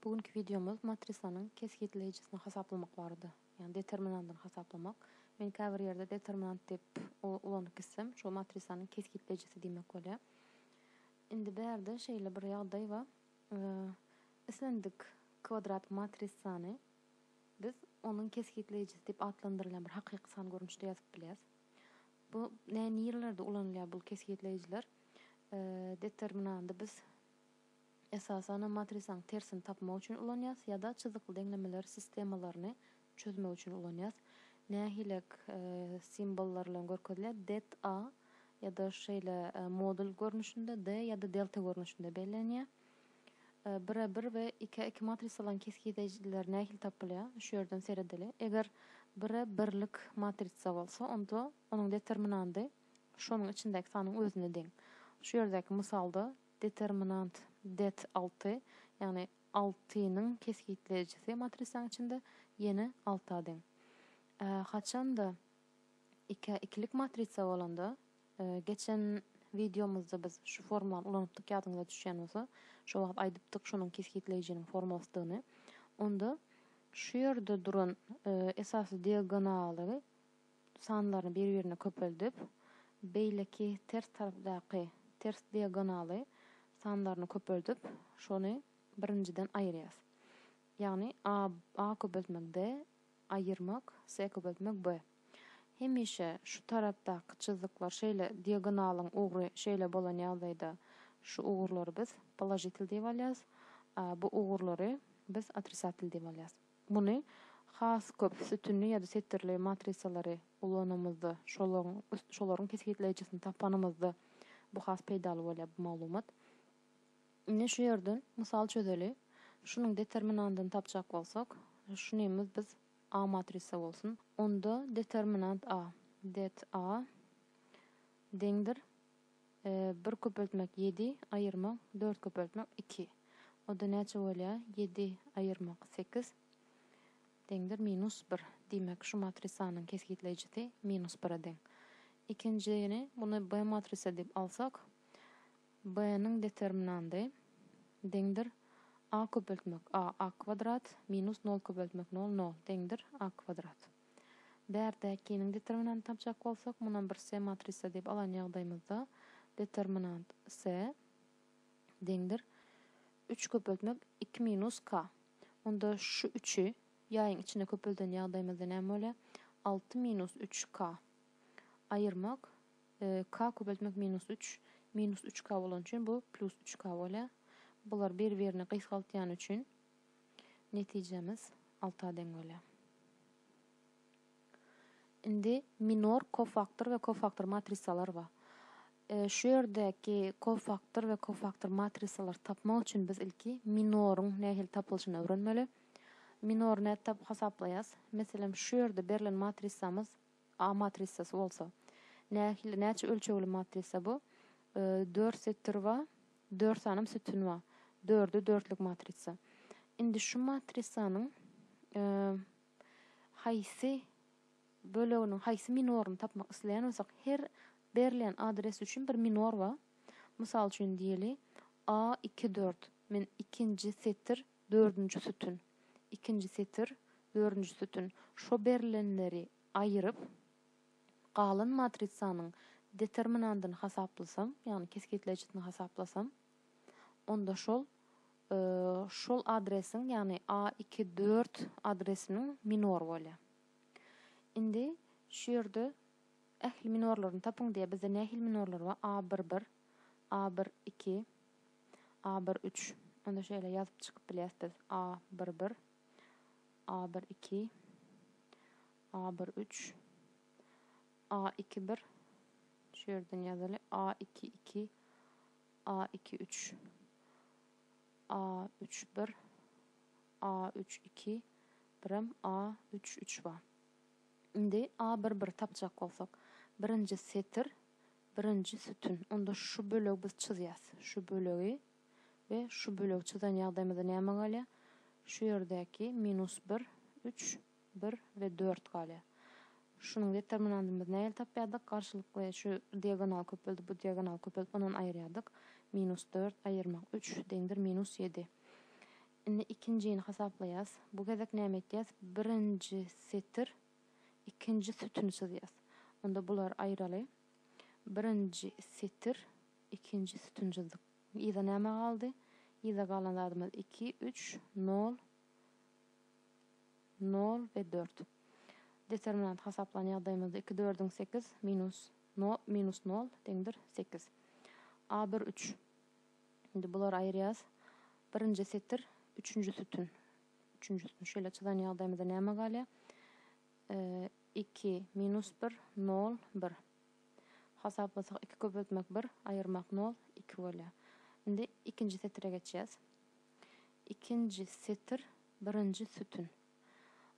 Bu günki wideomyz matrisanyň kesgitleýjisini hasaplamak barada, ýagny determinandyny hasaplamak. Men käbir ýerde determinant diýip ulanyp gitsem, şol matrisanyň kesgitleýjisi diýmek bolýar. Indi bu ýerde şeýle bir ýagdaý bar. Islendik kwadrat matrisany biz onuň kesgitleýjisi diýip atlandyrylýan bir hakyky san görnüşde ýazyp bilýäris. Bu nä nirelerde ulanylýar bu kesgitleýjiler? Determinandy biz Esasanam matrisaň tersini tapmak üçin ulanýas ýa-da çyzykly deňlemeler sistemalaryny çözmek üçin ulanýas. Nähilek simbollar bilen görkezilýär? Det A ýa-da şeýle modul görnüşinde D ýa-da delta görnüşinde bellenýär. Bir a bir we iki a iki matrisalaryň kesgideýjileri nähili tapylýar? Şu ýerden seredeli. Eger bir a birlik matrisa bolsa, onda onuň determinandy şonuň içindäki sanyň özüne deň. Şu ýerdäki mysalda Determinant, det. Alty, ýagny altynyň kesgitleýjisi matrisaň içinde ýene alta deň. Ä, haçan-da, ikä ikilik matrisa bolanda, geçen wideomyzda biz şu formulany ulanypdyk ýadyňyza düşýän bolsa, şo wagt aýdypdyk şonuň kesgitleýjiniň formulasydygyny. Onda şu ýerde duran esasy diagonaly, sanlaryny bir-birine köpeldip, beýleki ters tarapdaky ters diagonaly sanlaryny köpeldip, şony birinjiden aýyrýas. Ýagny a a köpeltmek d, aýyrmak s köpeltmek b. Hemişe şu tarapdaky çyzyklar şeýle diagonalyň ugry şeýle bolan ýagdaýda şu ugurlary biz položitel diýip alýas, a bu ugurlary biz otrisatel diýip alýas. Muny has köp sütünli ýa-da setirli matrisalary ulananymyzda, şolaryň şolaryň kesgitleýjisini tapanymyzda bu has peýdaly bolýar bu maglumat. Indi şu ýerden mysal çözeli. Şunuň determinandyny tapjak bolsak, şunymyz biz A matrisa bolsun. Onda determinant A, det A deňdir Bir köpeltmek ýedi, aýyrmak dört köpeltmek iki. O-da näçe bolýar? Ýedi aýyrmak sekiz deňdir minus bir. Diýmek, şu matrisanyň kesgitleýjisi minus bire deň. Ikinjini, muny B matrisa diýip alsak, B-niň determinandy deňdir a köpeltmek a, a kwadrat, minus nol köpeltmek nol, nol deňdir a kwadrat. Bärdäkiniň determinantyny tapjak bolsak, munam bir S matrisa diýip alan ýagdaýymyzda, determinant S deňdir üç köpeltmek iki minus K. Onda şu üçi ýaýyň içine köpelden ýagdaýymyzda näme bolýar? Alty minus üç K. Aýyrmak K köpeltmek minus üç, minus üç K bolany üçin bu plus üç K bolýar. Bular bir-birini gysgaltýany üçin Netijemiz alta deň bolýar. Indi minor kofaktor we kofaktor matrisalar bar. Şu ýerdäki kofaktor we kofaktor matrisalary tapmak üçin biz ilki minoryň nähili tapylyşyny öwrenmeli. Minory nädip hasaplaýas? Meselem, şu ýerde berlen matrisamyz A matrisasy bolsa. Nähili, näçe ölçegli matrisa bu? Dört setir ba, dört sanym sütün ba. Dörde dörtlük matrisa. Indi şu matrisanyň haýsy böleginiň haýsy minoryny tapmak isleýän bolsak, her berlen adres üçin bir minor ba. Mysal üçin diýeli, A iki dört. Men ikinji setir Dördünji sütün. Ikinji setir, dördünji sütün. Şo berlenleri aýyryp, galan matrisanyň determinandyny hasaplasam, ýagny kesgitleýjisini hasaplasam, onda şol şol adresiň, ýagny a iki dört adresiniň minor bolýar. Indi şu ýerde ähli minorlaryny tapyň diýýär. Bizde nähili minorlar bar? A bir bir, A bir iki. A bir üç. Onda şeýle ýazyp çykyp bilýäs biz. A bir bir. A bir iki. A bir üç. A iki bir. Şu ýerden ýazyly. A iki iki. A iki üç. A üç bir. A üç iki. Birem A üç üç bar. Indi A bir bir tapjak bolsak. Birinji setir. Birinji sütün, onda şu bölegi biz çyzýas. Şu bölegi we şu bölegi çyzan ýagdaýymyzda näme galýar? Şu ýerdäki minus bir, üç, bir we dört galýar. Şunuň determinantymyzy nähili tapýardyk? Garşylykly şu diagonaly köpeldip, bu diagonaly köpeldip, ondan aýyrýardyk. Minus dört aýyrmak üç deňdir minus ýedi. Indi ikinjini hasaplaýas. Bu gezek näme etýäs? Birinji setir. ikinji sütüni çyzýas. Onda bulary aýyraly. Birinji setir, ikinji sütün çyzdyk. Yza näme galdy? Yza galan zadymyz iki, üç, nol, nol we dört. Determinant hasaplan ýagdaýymyzda iki dördüň sekiz minus nol minus nol deňdir sekiz. A bir üç. Indi bulary aýyrýas. Birinji setir, üçünji sütün. Üçünjisini şeýle çyzan ýagdaýymyzda näme galýar? Iki, minus bir, nol, bir. Hasaplasak iki köpeltmek bir, aýyrmak nol, iki bolýar. Indi ikinji setire geçýäs. Ikinji setir, birinji sütün.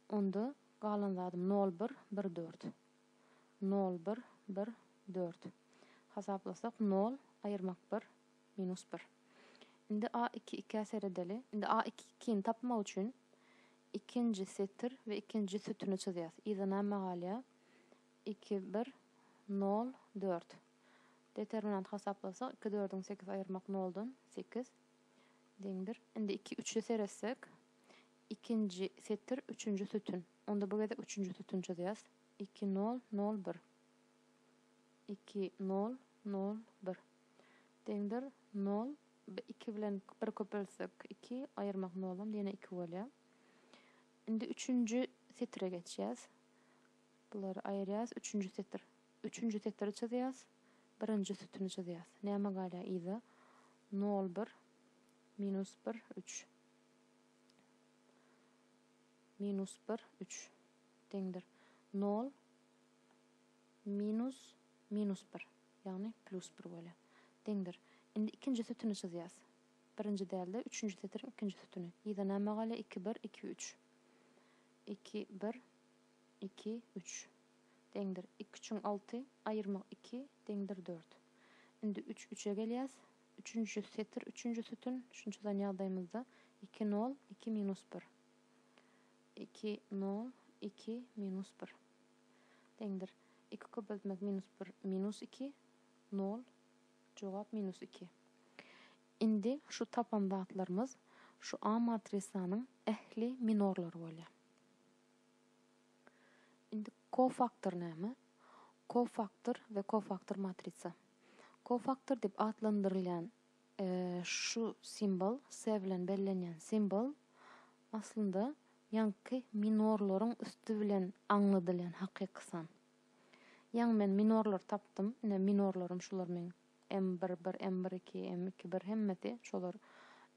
Onda galan zadym nol, bir, bir, dört. Nol, bir, bir, dört. Hasaplasak nol, aýyrmak bir, Minus bir. Indi a iki ikä seredeli. Indi a iki ikini tapmak üçin ikinji setir we ikinji sütüni çyzýas. Yza näme galýa? Iki bir nol dört. Determinant hasaplasak iki dördüň sekiz aýyrmak noldan sekiz deňdir. Indi iki üçe seretsek ikinji setir üçünji sütün. Onda bu gezek üçünji sütün çyzýas. Iki nol nol bir. Iki nol nol bir. Deňdir, nol, bi iki bilen bir köpeltsek, iki, aýyrmak nolam ýene iki bolýar. Indi üçünji setire geçýäs. Bulary aýyrýas, üçünji setir. Üçünji setiri çyzýas, birinji sütüni çyzýas. Näme galýar yza? Nol, bir, minus bir, üç. Minus bir, üç. Deňdir, nol. Minus, minus bir, ýagny plus bir bolýar. Deňdir. Indi ikinji sütüni çyzýas. Birinji däl-de, üçünji setiriň ikinji sütüni. Yza näme galýar? Iki, bir, iki, üç. Iki, bir, iki, üç. Deňdir. Iki üçiň alty, aýyrmak iki, deňdir dört. Indi üç, üçe gelýäs. Üçünji setir, üçünji sütün, şuny çyzan ýagdaýymyzda, iki, nol, iki, minus bir. Iki, nol, iki, minus bir. deňdir. Iki köpeltmek minus bir, minus iki, nol. Jogap minus iki. Indi şu tapan zatlarymyz şu A matrisanyň ähli minorlary bolýar. Indi kofaktor näme? Kofaktor we kofaktor matrisa. Kofaktor diýip atlandyrylýan Şu simbol, se bilen bellenýän simbol, aslynda ýaňky minorlaryň üsti bilen aňladylýan hakyky san. Ýaňy men minorlary tapdym, ine minorlarym şular meň M bir bir, M bir iki, M iki bir hemmesi şolar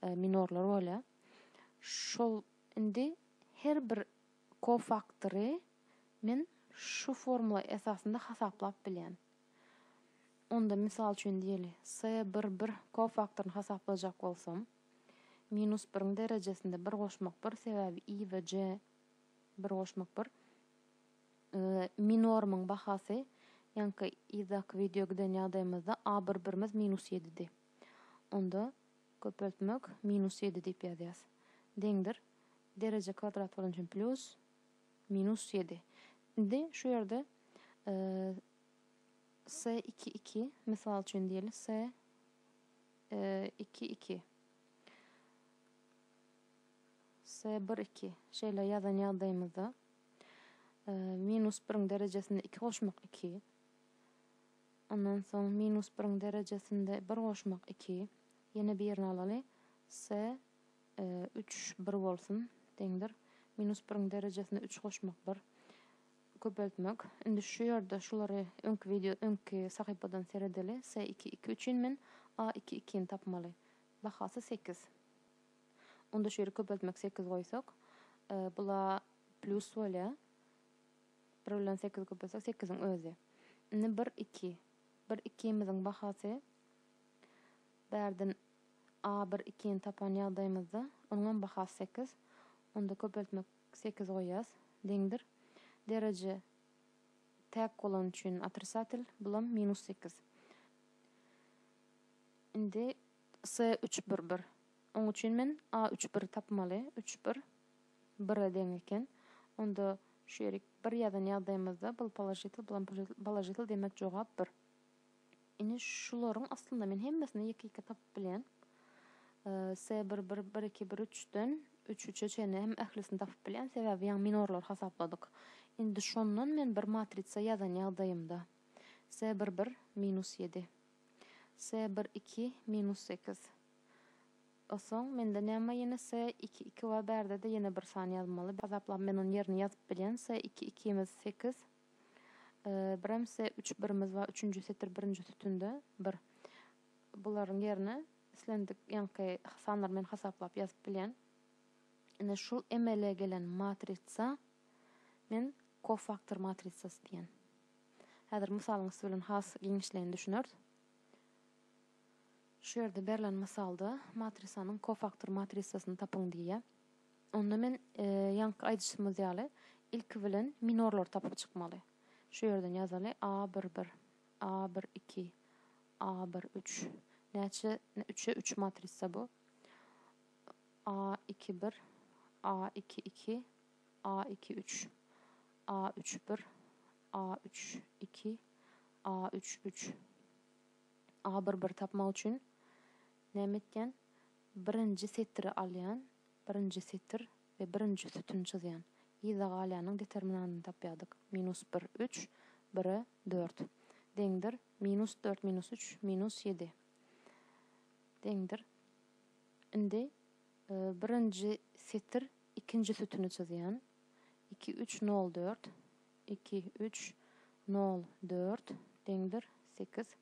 minorlar bolýar. Şol indi her bir kofaktory men şu formula esasynda hasaplap bilýän. Onda, mysal üçin diýeli, S bir bir kofaktoryny hasaplajak bolsam, minus biriň derejesinde bir goşmak bir, sebäbi I we J bir goşmak bir, mi normyň bahasy, ýaňky yzdaky wideo giden ýagdaýymyzda A bir birimiz minus ýedidi. Onda köpeltmek minus ýedi diýip ýazýas. Deňdir. Dereje kwadrat bolan üçin plýus. Minus ýedi. Indi şu ýerde S iki iki, mysal üçin diýeli, S iki iki, S bir iki şeýle ýazan ýagdaýymyzda minus biriň derejesinde iki goşmak iki. Ondan soň minus biriň derejesinde bir goşmak iki. Ýene birini alaly. S Üç, bir bolsun, deňdir. Minus biriň derejesine üç goşmak, bir. Köpeltmek. Indi şu ýerde şulary öňki wideo, öňki sahypadan seredeli. S iki, iki üçin men A iki, ikini tapmaly. Bahasy sekiz. Onda şu ýeri köpeltmek sekiz goýsak, bula plus bolýar. Bir bilen sekizi köpeltsek, sekiziň özi. Indi bir, iki. Bir, ikimiziň bahasy Bärden A bir ikini tapan ýagdaýymyzda, onuňam bahasy sekiz. Onda köpeltmek sekiz goýýas. Deňdir. Dereje täk bolany üçin otrisatel, bulam minus sekiz. Indi C üç bir bir. Oň üçin men A üç biri tapmaly. Üç bir bire deň eken. Onda şu ýeri bir ýazan ýagdaýymyzda bul položitel, bulam položitel, demek jogap bir. Ine şularyň aslynda men hemmesini ýeke-ýeke tapyp bilýän. Se bir bir bir iki bir üçden üç üçe çenli hem ählisini tapyp bilýän. Sebäbi ýaňy minorlary hasapladyk. Indi şondan men bir matritsa ýazan ýagdaýymda se bir bir minus ýedi. Se bir iki minus sekiz. Osoň mende näme ýene se iki iki bar bärde-de ýene bir san ýazmaly. Hasaplap men ony ýerine ýazyp bilýän. Se iki ikimiz sekiz. Bremse üç birimiz bar, üçünji setir birinji sütünde bir. Bularyň ýerine islendik ýaňky sanlary men hasaplap ýazyp bilýän. Ine şul emele gelen matritsa men kofaktor matritsasy diýen. Häzir mysalyň üsti bilen has giňişleýin düşüneris. Şu ýerde berlen mysalda matrisanyň kofaktor matritsasyny tapyň diýýär. Onda men ýaňky aýdyşymyz ýaly ilki bilen minorlary tapyp çykmaly. Şu ýerden ýazaly, A bir bir, A bir iki, A bir üç. Näçe üçe üç matrisa bu. A iki bir, A iki iki, A iki üç, A üç bir, A üç iki, A üç üç. A bir bir tapmak üçin näme etýän? Birinji setiri alýan, birinji setir we birinji sütün çyzýan. Yza galýanyň determinantyny tapýardyk, minus bir, üç, bire dört. Deňdir, minus dört minus üç, minus ýedi. Deňdir. Indi birinji setir ikinji sütüni çyzýan. Iki, üç, nol, dört. Iki, üç, nol, dört. Deňdir, sekiz.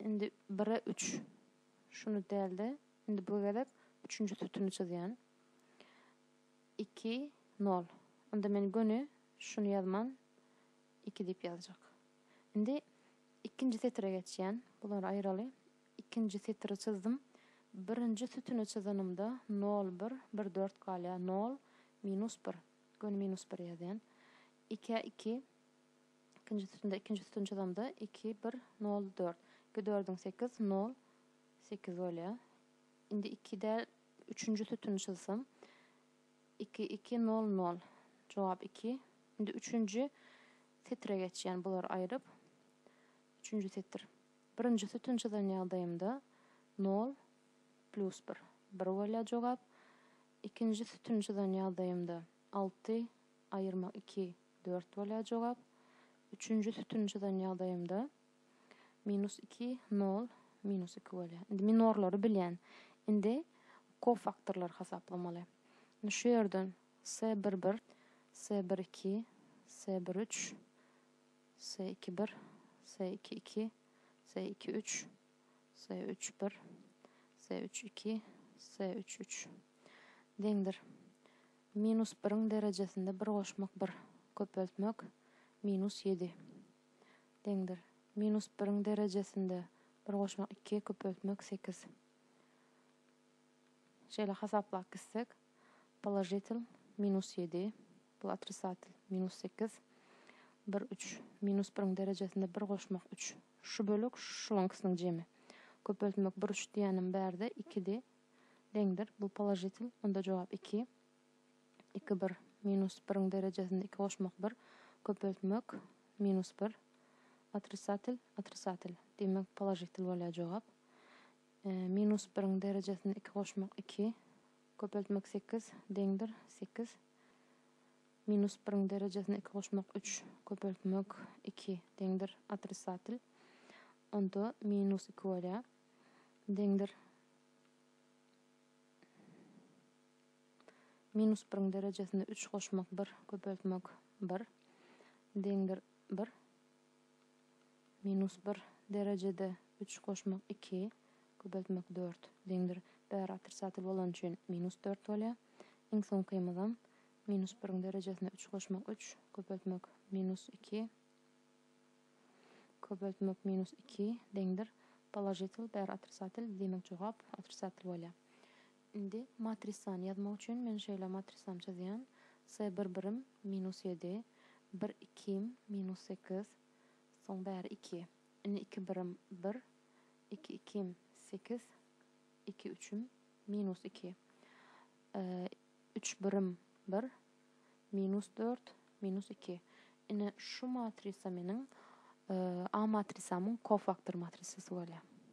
Indi bire üç. Şuny däl-de, indi bu gezek üçünji sütüni çyzýan. Iki, nol. Ynda men göni şuny ýazman iki diýip ýazjak. Indi ikinji setire geçýän. Bulary aýyraly. Ikinji setiri çyzdym. Birinji sütüni çyzanymda nol, bir, bir, dört galýar. Nol, minus bir. Göni minus bir ýazýan. Ikä iki. Ikinji sütünde ikinji sütün çyzamda iki, bir, nol, dört. Iki dördüň sekiz, nol, sekiz bolýar. Indi iki däl üçünji sütüni çyzsam. Iki, iki, nol, nol. Jogap iki. Indi üçünji setire geçýän bulary aýryp. Üçünji setir. Birinji sütün çyzan ýagdaýymda nol plus bir. Bir bolýar jogap. Ikinji sütün çyzan ýagdaýymda alty aýyrmak iki. Dört bolýar jogap. Üçünji sütüni çyzan ýagdaýymda minus iki, nol, minus iki bolýar. Indi minorlary bilýän. Indi kofaktorlary hasaplamaly. Indi şu ýerden S bir bir, S bir iki, S bir üç, S iki bir, S iki iki, S iki üç, S üç bir, S üç iki, S üç üç deňdir. Minus biriň derejesinde bir goşmak bir köpeltmek minus ýedi deňdir. Minus biriň derejesinde bir goşmak iki köpeltmek sekiz. Şeýle hasaplap gitsek, položitel minus ýedi, bul otrisatel minus sekiz, bir üç. Minus biriň derejesinde bir goşmak üç. Şu bölek şulaňkysynyň jemi. Köpeltmek bir üç diýenim bärde ikidi. Deňdir, bul položitel, onda jogap iki. Iki bir. Minus biriň derejesinde iki goşmak bir. Köpeltmek, minus bir. Otrisatel, otrisatel. Diýmek, položitel bolýar jogap. Minus biriň derejesinde iki goşmak iki. Köpeltmek sekiz, deňdir, sekiz. Minus biriň derejesinde iki goşmak üç. Köpeltmek iki, deňdir, otrisatel. Onda minus iki bolýar. deňdir. Minus biriň derejesine üç goşmak bir, köpeltmek bir, deňdir bir. Minus bir derejede üç goşmak iki, köpeltmek dört, deňdir. Bäri otrisatel bolany üçin minus dört bolýar. Iň soňkymyzam minus biriň derejesine üç goşmak üç, köpeltmek minus iki, Köpeltmek minus iki deňdir položitel bäri otrisatel diýmek jogap otrisatel bolýar. Indi matrisany ýazmak üçin men şeýle matrisany çyzýan. Se bir birim minus ýedi bir ikim minus sekiz soň bäri iki indi iki birim bir iki ikim sekiz iki üçim minus iki üç birim bir Minus dört, minus iki. Ine, şu matrisa meniň A matrisamyň kofaktor matrisasy bolýar.